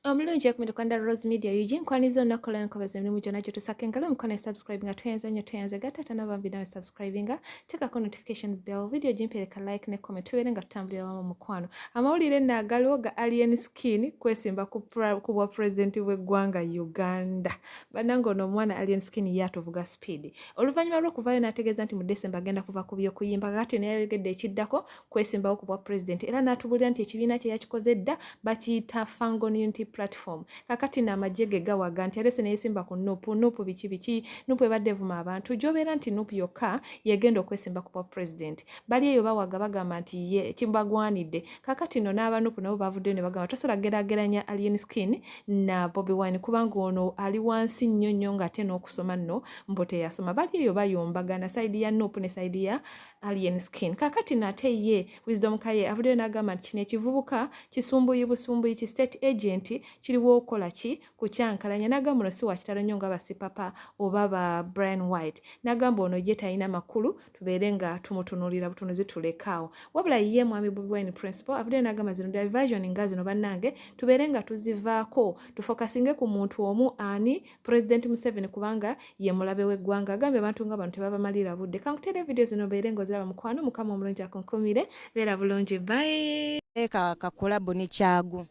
omulungi ekumira kwanda rose media ug nkwaniza olunaku olwala nkobaza emirimu gyonna gyotusaka engalo omukono esubscribe nga tweyanza nnyo tweyanze ga taata nabambi nawe subscribe nga teekako notification bell video gimpereka like ne comment tubeere nga tutambulira wamu mukwano amawulire naagaliwo ga alien skin kwesimba ku bwa pulezidenti bw'eggwanga uganda bananga ono omwana alien skin ye atuvuga speed oluvannyuma lw'okuvaayo n'ategeeza nti mu december agenda kuva ku by'okuyimba kati naye ayogedde ekiddako kwesimbawo ku bwa pulezidenti era n'atubuulira nti ekibiina kye yakikoze dda bakiyita fangon unity platform kakati no amagye ge gawaga nti alese neyesimba ku nupu nupu biki biki nupu ebadde evuma abantu gyobeera nti nupu yokka yegenda okwesimba ku bwa pulezidenti bali eyo bawaga bagamba nti ye kimbagwanidde kakati no n'abanupu nabo bavuddeyo ne bagamba tosobola gerageranya alien skin na bobi wine kubanga ono ali wansi nnyo nnyo ng'ate n'okusoma nno mbu teyasoma bali eyo bayombagana saidi ya nupu ne saidi ya alien skin kakati nate ye wisdom kaye avuddeyo n'agamba nti kino ekivubuka kisumbuyi busumbuyi ki state agent kiriwo okola ki ku kyankalanya n'agamba ono si wakitalo nnyo nga basipapa oba ba brian white n'agamba ono ye talina makulu tubeere nga tumutunuulira butunuzi tulekaawo wabula ye mwami bobi wine principal avuddeyo n'agamba zino diversion nga zino bannange tubeere nga tuzivaako tufokasinge ku muntu omu ani President Museveni kubanga ye mulabe w'eggwanga agambye abantu nga bano tebabamalira budde kankuteera evidiyo zino obeere ng'oziraba mukwano mukama omulungi akunkumire beera bulungi bae eka kakulabu ne kyagu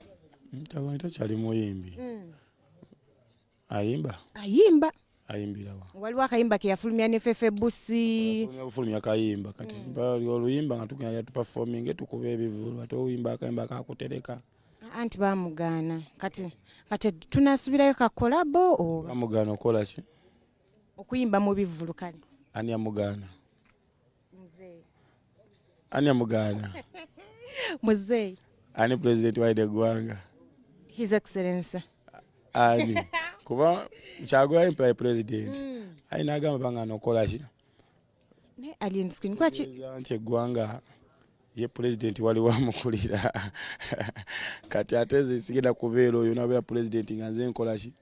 ntabani takyali muyimbi hmm. ayimba ayimba ayimbirawa waliwo akayimba keyafulumya ne fefe busi bufulumya kayimba kati hmm. oluyimba nga tugenda tupafominge tukuba ebivulu ate oyimba akayimba kakutereka anti bamugaana kati kati tunasubirayo kakolabo oba bamugaana okola ki okuyimba mu bivvulu kale ani amugaana ani amugaana muzeeyi ani pulezidenti waide eggwanga his excellence ani kuba kyagulanyi pulezidenti mm. ayina agamba bangana okola ki naye alien skin kwaki nti eggwanga ye pulezidenti waliwo amukulira kati ate nze sigenda kubeera oyo nabeera pulezidenti nga nze nkolaki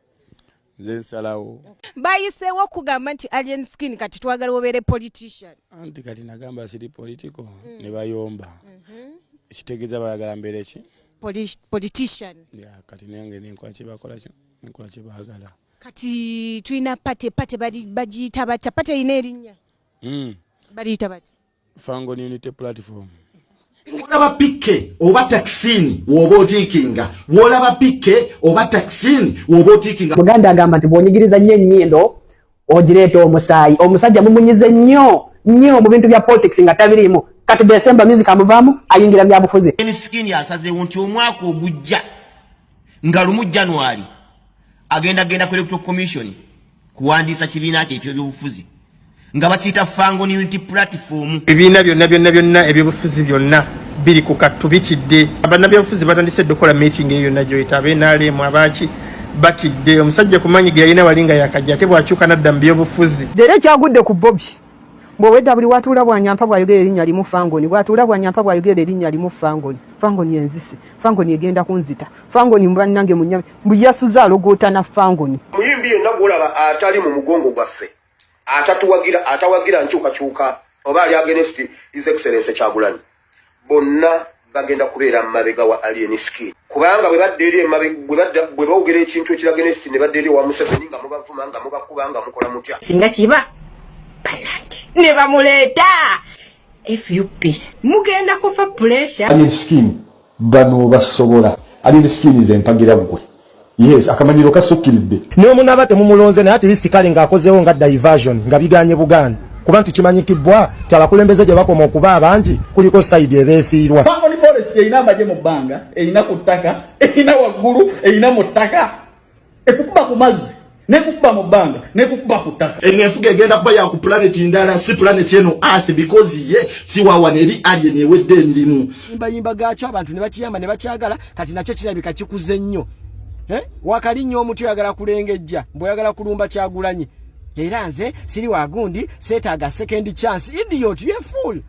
nze nsalawo bayiseewo okugamba nti alien skin kati twagala obeere politician anti kati nagamba siri politico mm. ne bayomba mhm. kitegeeza bayagala mbeere ki politician kati nange nenkola kyebakola nenkola kyebaagala yeah, Kati tulina pate pate bagiyita batya pate erina erinnya hmm. baliyita batya fangon unity platform olaba pikke oba takisini woba otiikinga wolaba pikke oba takisini woba otiikinga muganda agamba nti bwonyigiriza nnyo ennyindo ogireeta omusaayi omusajja mumunyize nnyo nnyo mu bintu bya politics nga tabiriimu kati desemba music amuvaamu ayingira byabufuzi emisikini asazeewo nti omwaka ogujja nga lumu january agenda genda ku electoral commission kuwandiisa kibiina kye ekyebyobufuzi nga bakiyita fango unity platform ebibiina byonna byonna byonna ebyobufuzi byonna biri ku kattu bitidde bannabyobufuzi batandise dde okukola meeting eyo yonna gyoyita abenaalemu abaaki batidde omusajja kumanyi ge yalina wali nga yakajja ate bwakyuka nadda mu byobufuzi leero ekyagudde ku bobi bwowedda buli watuula bwanyampa bwayogera erinnya limu fangoni bwatuula bwanyampa bwayogera erinnya limu fangoni fangoni enzisi fangoni egenda kunzita fangoni banange munyami mbu yasuze alogoota na fangoni muyimbi yenna gwolaba atali mu mugongo gwaffe atatuwagira atawagira nkyukakyuka oba ali agenst is excellence kyagulanyi bonna bagenda kubeera mumabega wa alien skin kubanga bwe badda eri bwe bawogera ekintu ekiragenst ne badda eri owa museveni nga mubavuma nga mubakuba nga mukola mutya singa kiba banange ne bamuleeta fup mugenda kufa puresure alien skin bano basobola ali sikini ze mpagira gwe yes akamanyiro kasukkiridde ne omunaba temumulonze naye at least kale ng'akozeewo nga diversion nga biganye buganda kuba nti kimanyikibbwa ti abakulembeze gye bakoma okuba abangi kuliko sayidi ebeefiirwa erina amagye mu bbanga erina ku ttaka erina waggulu erina mu ttaka ekukuba ku mazzi nekukuba mu bbanga nekukuba ku ttaka eno enfuga egenda kuba yaku pulaneti ndala si pulaneti eno earth because ye siwawa neri alien ewedde emirimu yimbayimba gaakyo abantu ne bakiyamba ne bakyagala kati nakyo kirabika kikuze nnyo eh? wakali nnyo omutu oyagala kulengejja mbweoyagala kulumba kyagulanyi era nze siri wagundi seetaaga second chance idiot ye full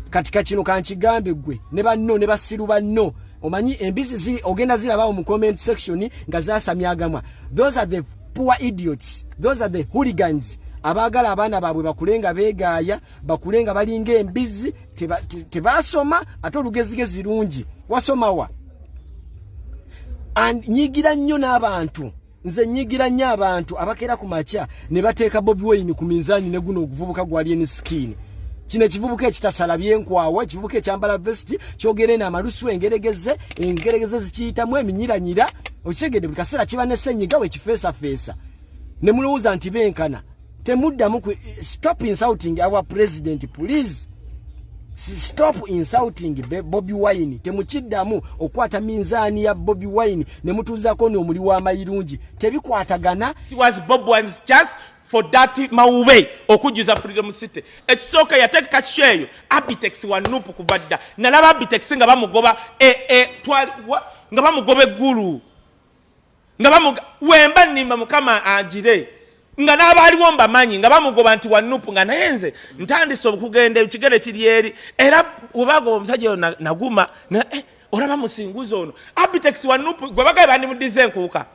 katika kino kankigambe gwe ne banno ne basiru banno omanyi embizi ziri ogenda zirabawo mu comment section nga zasamya agamwa those are the poor idiots those are the hooligans abaagala abaana baabwe bakule nga beegaaya bakule nga balinga embizi tebaasoma te, te ate olugezigezi lungi wasomawa nyigira nnyo n'abantu nze nyigira nnyo abantu abakeera ku makya ne bateeka bobi wayini ku minzaani ne guno oguvubuka gwali eni sikiini kino ekivubuka ekitasala byenkwawa ekivubuka ekyambala vesiti kyogera eno amalusu engeregeze engeregeze zikiyitamu eminyiranyira okitegedde buli kaseera kiba ne senyiga wekifeesafeesa ne mulowooza nti benkana temuddamu stop insulting our president please stop insulting bobi wine temukiddamu okwata minzaani ya bobi wine ne mutuuzako n'omuli w'amayirungi tebikwatagana It was bob one's chance for that mawube okujjuza freedom city ekisooka yateeka sheeyo abitex wa nupu kuva dda nalaba abitex nga bamugoba e, e, nga bamugoba eggulu nga bamuga wemba nimba mukama agire nga n'abaaliwo mbamanyi nga bamugoba nti wanupu nga naye nze ntandise okugenda ekigere kiri eri era webagoba omusajja oyo naguma eh, olaba musinguzi ono abitex wanupu gwe bagaye bandimuddiza enkuuka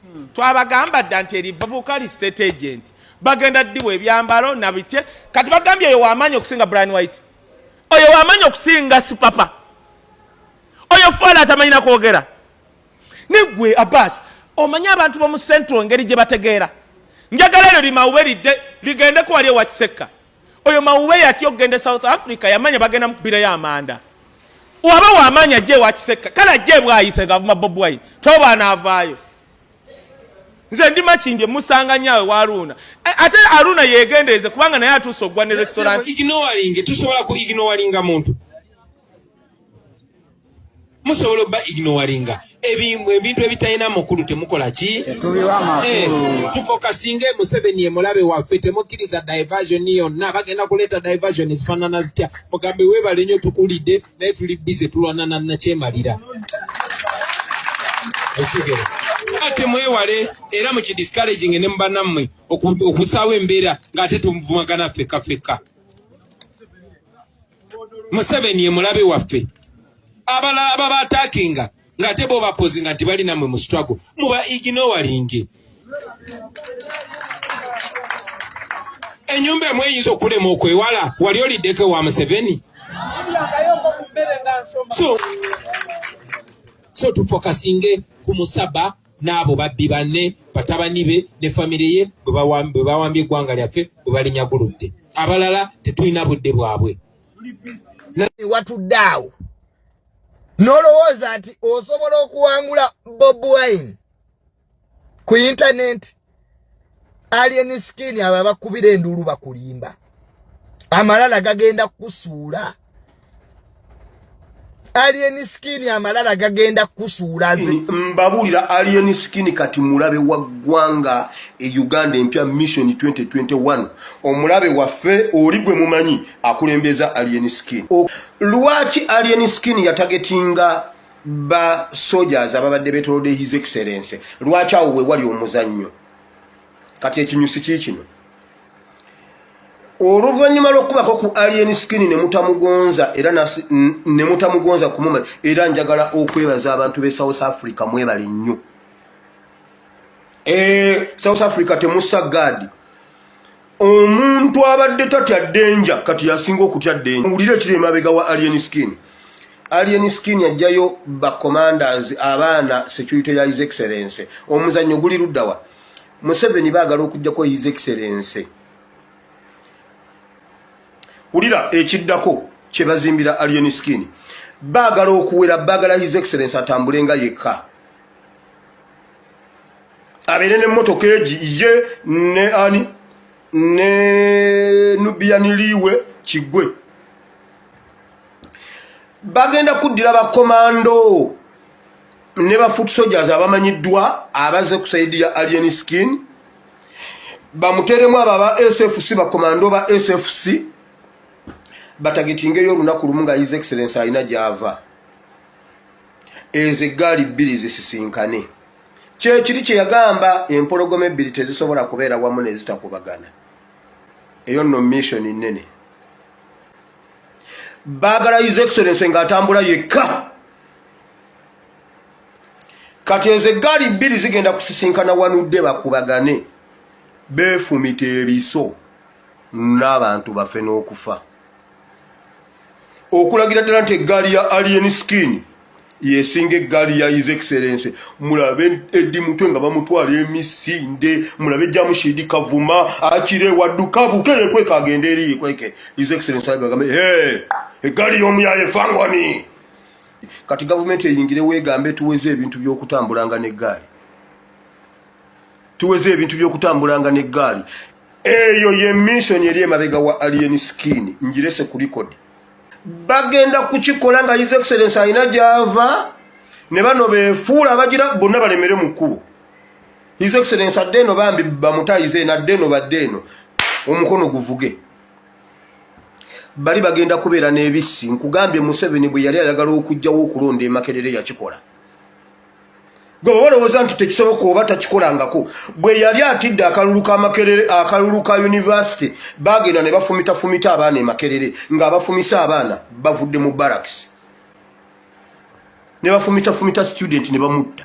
hmm. twabagamba dda nti eri babuuka li state agent bagenda ddiwa ebyambalo nabitye kati bagambye oyo wamaanyi okusinga brian white oyo wamaanyi okusinga sipapa oyo fwala atamanyi nakwogera negwe abas omanyi abantu bomu central ngeri gye bategeera njagala eryo limawube lidde ligende ku wali ewa kisekka oyo mawube yatya okugenda e south africa yamanya bagenda mukubirayo amanda waba wamaanyi ajja ewa kisekka kale ajja ebwayise ngavuma bobwai tobaana avaayo nze ndi makindye musanga nyawe wa aruna eh, ate aruna yegendeeze kubanga naye atuuse okugwa ne restaurant tusobola ku ignowalinga muntu musobola oba ignoringa ebintu ebitalina mukulu temukola ki eh, tufokasinga emuseveni emulabe waffe temukkiriza diversion yonna bagenda kuleeta diversion ezifanana zitya mugambe webale nyo tukulidde naye tuli bize tulwanana nakyemalira ekigero ate mwewale era mukidiscouraging ne mubanammwe okusaawo embeera ng'ate tumuvumagana fekka fekka museveni emulabe waffe abalala aba batakinga nga ate bo bapozinga nti bali namwe mu struggle muba iginowalinge enyumba emu eyinza okulema okwewala wali oliddeko wa museveni so so tufokasinge ku musaba n'abo babbi banne batabani be ne famire ye bwe bawambye eggwanga lyaffe bwe balinyaguludde abalala tetulina budde bwabwe watudde awo n'olowooza nti osobola okuwangula bob wine ku intanenti alien skin abo abakubira enduulu bakulimba amalala gagenda kukusuula alien skin amalala gagenda kukusuula nze mbabuulira alien skin kati mulabe wa ggwanga e uganda empya mission 2021 omulabe waffe oli gwe mumanyi akulembeza alien skin lwaki alien skin yatagetinga ba soldiers ababadde betolode his excellence lwaki awo wewali omuzannyo kati ekinyusi kikino oluvanyuma lwokubako ku alien skin nemutamugonza era nemutamugonza kumuma era njagala okwebaza abantu be south africa mwebali nnyo e, south africa temusa gadi omuntu abadde tatya denja kati yasinga okutya denja owulire ekiri emabega wa alien skin alien skin ajjayo bacommanders abaana security ya his excellence omuzannyo guli luddawa museveni baagala okujjako his excellence wulira ekiddako kyebazimbira alien skin baagala okuwera baagala his excellence atambulenga yekka abeere ne motoka egi ye ne ani ne nubiyaniliiwe kigwe bagenda kuddira bakomando ne ba foot soldiers abamanyiddwa abaze ku saidi ya alien skin bamuteremu abo aba sfc bakomando ba sfc batagitingeyo olunaku lumu nga his excellence alina gyava ezo eggaali bbiri zisisinkane kyekiri kye yagamba empologoma ebbiri tezisobola kubeera wamu nezitakubagana eyo nno mission nnene baagala his excellence nga atambula yekka kati ezo eggaali bbiri zigenda kusisinkana wanudde bakubagane beefumita ebiso n'abantu bafe n'okufa okulagira ddala nti eggaali ya alien skin yesinga eggaali ya his excellence mulabe eddi mutwe nga bamutwala emisinde mulabe jamushidi kavuma akire wadduka buke yekweka agende eri yekweke his excellence agambe he eggaali y'omuyaye fangwani kati gavumenti eyingire wegambe tuweze ebintu by'okutambulanga n'eggaali tuweze ebintu by'okutambulanga n'eggaali eyo ye mission eri emabega wa alien skin njirese ku record bagenda kukikola nga his excellence alina gyava ne bano befuula abagira bonna balemere mu kkubo his excellence adde eno bambi bamutayize eno adde eno badde eno omukono guvuge bali bagenda kubeera n'ebissi nkugambye museveni bwe yali ayagala okugjawo okulonda emakerere yakikola gwe balowooza nti tekisoboka oba takikolangako bwe yali atidde akalulu ka makerere akalulu ka univesity bagenda ne bafumitafumita abaana e makerere ng'abafumisa abaana bavudde mu baraks ne bafumitafumita student ne bamutta